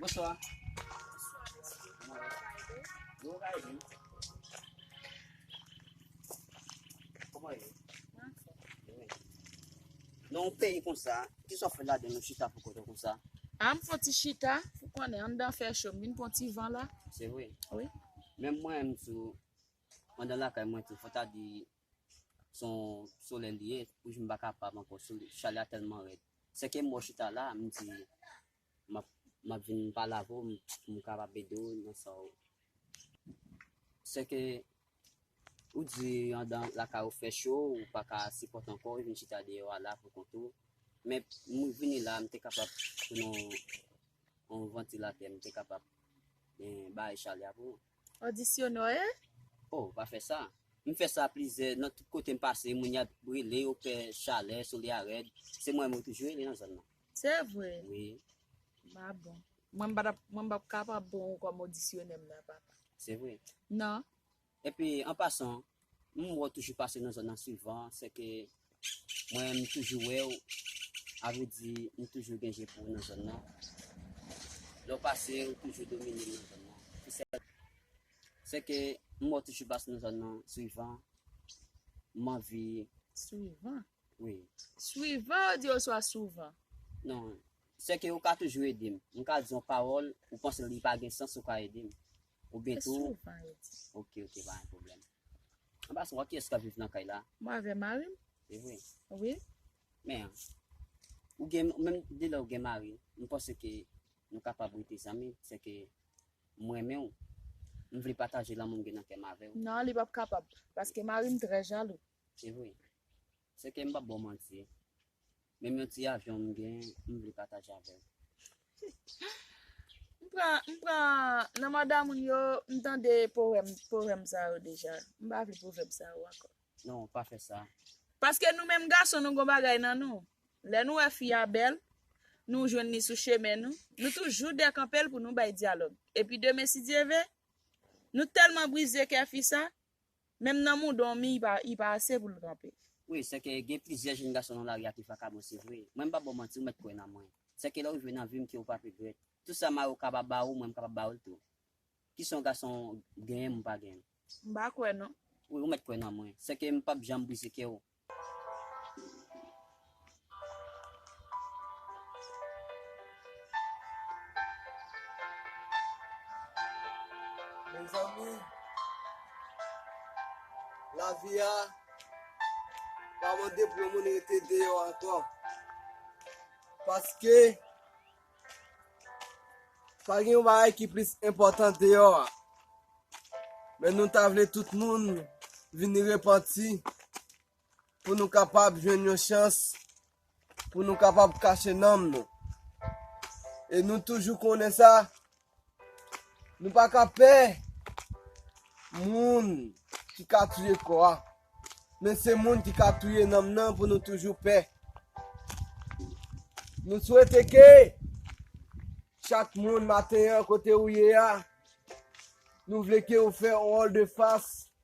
Bonswa. Koman ye? Nan yon peyi konsa, ki sa w fè la den yon chita pou kote konsa? A, m fè yon ti chita, ou konnen, anndan an fè cho, m vin pran yon ti van la. Se vre? Wi. Menm mwen menm tou, anndan lakay mwen tou, fò ta di, son solèy li ye wi m pa kapab ankò sou li chalè a tèlman rèd se ke m wè w chita la m di map map vin pale avè w pou m kapab ede w nan sa w se ke ou di andan lakay ou fè cho ou pa ka sipòte ankò ou vin chita deyò a la pou kont ou men m vini la m te kapab pran yon yon vantilatè m te kapab bay chalè a pou ou. Auditionoe? Oh, pa fè sa. M fè sa plizyè nan tout kote m pase, moun y ap brele yo pè chalè, solèy a rèd, se mwen menm yo toujou rele nan zòn nan. Se vre? Wi. Ba bon. Mwen m patap, mwen m pap kapab pran ou kòm auditionè m nan papa. Se vre? Nan. Epi, an pasan, M wè w toujou pase nan zòn nan souvan, sèke mwen m toujou wè w, a vle di m toujou gen je pou w nan zòn nan. Lè w pase, ou toujou domine m nan zòn nan. Ki sèl bagay. Sèke m wè w toujou pase nan zòn nan souvan, m anvi. Souvan? Wi. Souvan ou di oswa souvan? Non. Sèke ou ka toujou ede m. M ka di yon pawòl, ou panse li pa gen sans ou ka ede m. Ou byen tou? Esou pa yo di. Ok, ok, pa yon pwoblèm. An pasan, wè kiyès k ap viv nan kay la? Mwen avè mari m. Se vre? Wi. Men, ou gen, menm de lè ou gen mari, m panse ke nou kapab rete zanmi, se ke m renmen ou, m vle pataje lanmou m gen nan kè m avè ou. Non, li p ap kapab. Paske mari m trè jalou. Se vre? Se ke m pap baw manti, menm yon ti avyon m gen, m vle pataje avèw. M pran, m pran, nan manda moun yo, m tande powèm, pwovèm sa yo deja. M pa vle pwovèb sa yo ankò. Non, pa fè sa. Paske nou menm gason nou gon bagay nan nou. Lè nou wè fi a bèl, nou jwenn li sou chemen nou, nou toujou dekanpe l pou nou bay dyalòg. Epi demen si Dye ve, nou tèlman brize kè fi sa, Menm nan mou domi li pa ase poul kanpe. Wi sèke gen plizyè jenn gason nan lari a ki vakabon se vre mwen m pa baw manti ou mèt kwè nan mwen sèke lè ou jwe nan vim ke ou pap regrèt tout sa mariw kaba ba ou mwen m kapab ba oul tou kison gason genyen mwen pa genyen. M pa kwè non. Wi ou mèt kwè nan mwen sèke m pap janm brize kèw Mezanmi lavi a pa mande pou yon moun rete deyò ankò paske Pa gen yon bagay ki plis enpòtan deyò a. Men nou ta vle tout moun vini repanti pou nou kapab jwenn yon chans pou nou kapab kache nanm nou. E nou toujou konnen sa. Nou pa ka pè moun ki ka touye kò a, men se moun ki ka touye nanm nan pou nou toujou pè. Nou swete ke chak moun maten an kote ou ye a, nou vle ke ou fè yon wòl de fas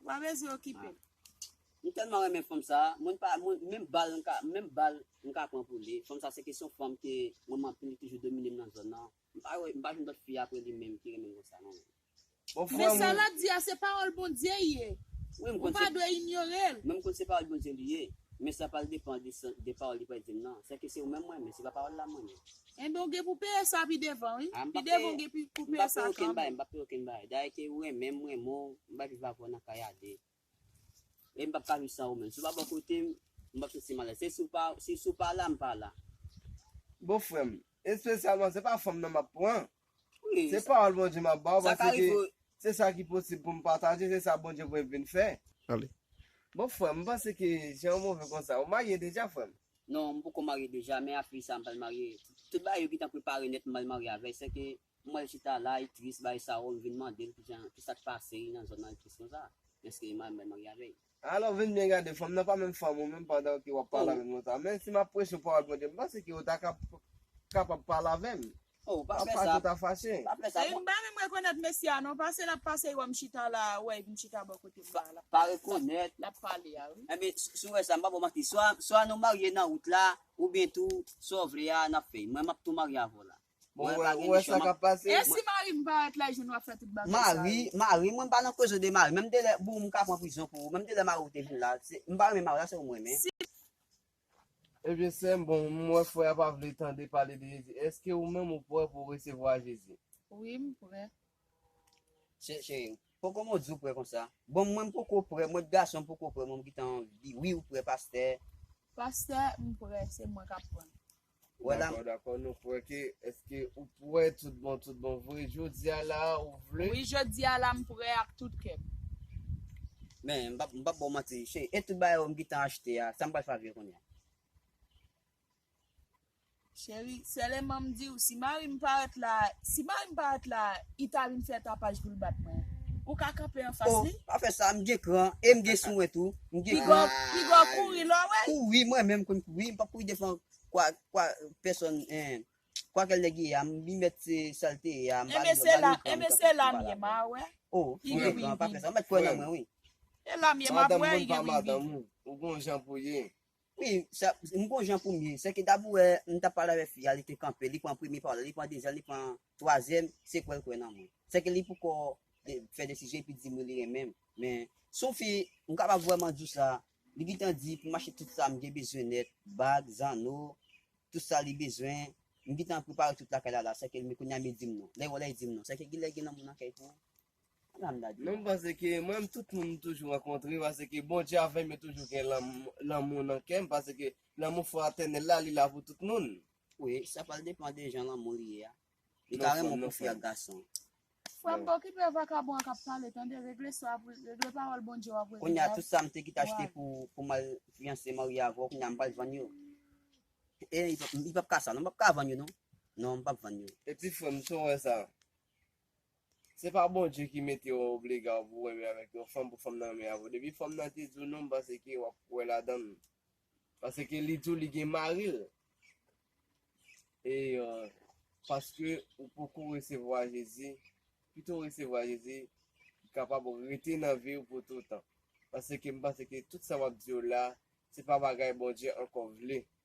Ou pa bezwen okipe l. M telman renmen fanm sa, mwen m pa menm bal m ka menm bal m ka pran pou li, fanm sa se kesyon fanm ke renmen anpil li toujou domine m nan zòn nan, m pa wè m pa jwenn lòt fi aprè li menm ki renmen m konsa non. Men sa lap di a se pawòl Bondye y ye ou pa dwe inyore l. Mwen m konn se pawòl Bondye li ye, men sa pral depan de pawòl li pral di m nan, sèke se ou menm m renmen se pa pawòl la m renmen. Enben w gen pou peye sa pi devan wi. Ah m Pi pap devan peye, w gen pi pou m peye pap peye sa okenn bagay, m kanmenm. pap peye okenn bagay. Dayè ke ou renmen m, m renmen w, m bay viv avè w nan kay a 2. E m pap ka viv san ou menm. Si w pa bò kote m, m pap santi m alèz. Se si w pa, si si w pa la, m pa la. Bon frè m, espesyalman se pa fanm nan m ap pran, Se pawòl Bondye map baw paske se sa ki posib poum pataje se sa Bondye voyem vin fè. Bon frèm m panse ke jan ou move konsa ou marye deja frèm? Non m poko marye deja men aprè sa m pral marye tout bagay yo gentan prepare nèt m pral marye avèl sèke m wèl chita la li tris bay sa ou m vin mandel kijan kisak pase nan zòn nan li tris konsa men ske li mal m pral marye avèl. Alò vin byen gade, fanm nan pa menm fanm ou menm pandan ke w ap pale avè m konsa. Men si m ap preche pawòl Bondye, m panse ke ou ta kapab pale avè m. An pa fè sa. Sèye, m pa menm rekonèt mesye a non, pase l ap pase wè m chita la a, wè m chita bò kote m la a, l ap pale sa l ap pale a wi. Enben, si w wè sa, m pa ba w manti, swa nou marye nan wout la, oubyen tou, sa w vle a, n ap fè. Mwen m ap tou marye avè w la a. Bon Mwen wè pa ou gen wè nichon sa map kap pase. E si mari m parèt la e jwenn w ap fè tout bagay sa Mari, yo? mari, mwen m pa nan kozon de mari, menm de lè boo m ka pran prizon pou ou, menm de lè mari w te vin la, se, m pa renmen mari a se ou m renmen. Si. Ebyen sèm, bon m wè frè a pa vle tande pale de Jezi, èske ou menm ou prè pou w resevwa Jezi? Wi m prè. Che, cheri m, poko m ou di w prè konsa? Bon mwen m poko prè, mwen t gason m poko prè mwen m gintan anvi, wi ou prè pastè? Pastè, m prè, se mwen k ap pran l. Wè la. Dakò dakò nou kwè ke eske ou prè tout bon tout bon vre jodia la ou vle. Wi jodia la m prè ak tout kèm. Men m pap m pap baw manti cheri e tout bagay yo m gintan achte a sam pral fè avk yo kounya. Cheri seleman m diw si marim parèt la si marim parèt la I ta vin fè tapaj pou l bat mwen. Ou ka kanpe anfas li. Oh, pa fè sa, m gen kran e m gen souwen tou. M gen kran. Piga w kouri lè w wè l. Kouri, mwen menm konn kouri. M pap kouri devan kwa, kwa pèsòn, en. Kwa kèl nèg ye a, m bi mèt se sa l te ye a, m pa vle ba li kran. Enben se la m ye, m a wè. Oh, m gen kran, pa fè sa. Ou mèt kwè nan mwen wi. E la m ye, m ap wè, i gen vin vin. Madanm moun pa madanm ou. Ou gon jan pou w ye. Wi, sa, m gon jan pou m ye. Sèke dabou wè, m t ap pale avèk fi a, li te kanpe, li pran premye pawòl la, li pran dezyèm, li pran twazyèm, se kwè l kwè nan mwen. Sèke li poukò fè desizyon epi di m wi li renmen m. Men, s on fi, m kapab vrèman di w sa, li gentan di pou m achte tout sa m gen bezwen nèt, bag, zanno, tout sa li bezwen, m gentan prepare tout lakay la la, sèke li men kounye a men l di m non. Lè y wè w la, li di m non. Sèke genlè gen lanmou nan kè l pou ou. Non m panse ke mwen menm tout moun m toujou rankontre pase ke Bondye avèm yo toujou gen lanmou nan kèm pase ke lanmou fratènèl la li la pou tout moun. Wi, sa pral depan de jan lanmou li ye a. Li ka renmen w pou fi ak gason. Frèm pa okipe vakabon an kap pale tande regle sa pou regle pawòl Bondye wap regle la. Kounya tout sam te kite achte pou mal fiyanse marye avè w kounya m pral vann yo li pap ka sa non m pap ka vann yo non non m pap vann yo. Eti frèm tou wè sa. Se pa Bondye ki mete w obliga w pou renmen avèk yon fanm pou fanm nan renmen avèk w. Depi fanm nan te di w non m panse ke w ap kwè ladan l. Paske li di w li gen mari l. E paske ou poko resevwa Jezi, pito w resevwa Jezi ki kapab rete nan vi w pou toutan. Paske m panse ke tout sa m ap di w la, se pa bagay Bondye ankò vle.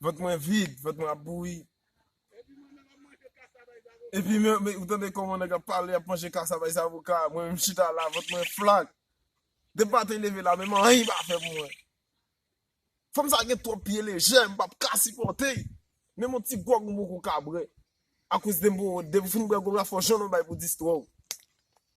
Vant mwen vid, vant mwen ap bouyi. Epi mwen menm, ou tande koman nèg ap pale, ap manje kasabay zavoka, mwen menm chita la, vant mwen flak. Depi maten leve la menm anyen pa fè pou mwen. Fanm sa gen twòp pye lejè, m pap ka sipòte. Menm yon ti gwòg m poko ka bwè. Akoz de m pou, depi w fin bwè gwòg la fò jòn ou bay pou distrè w.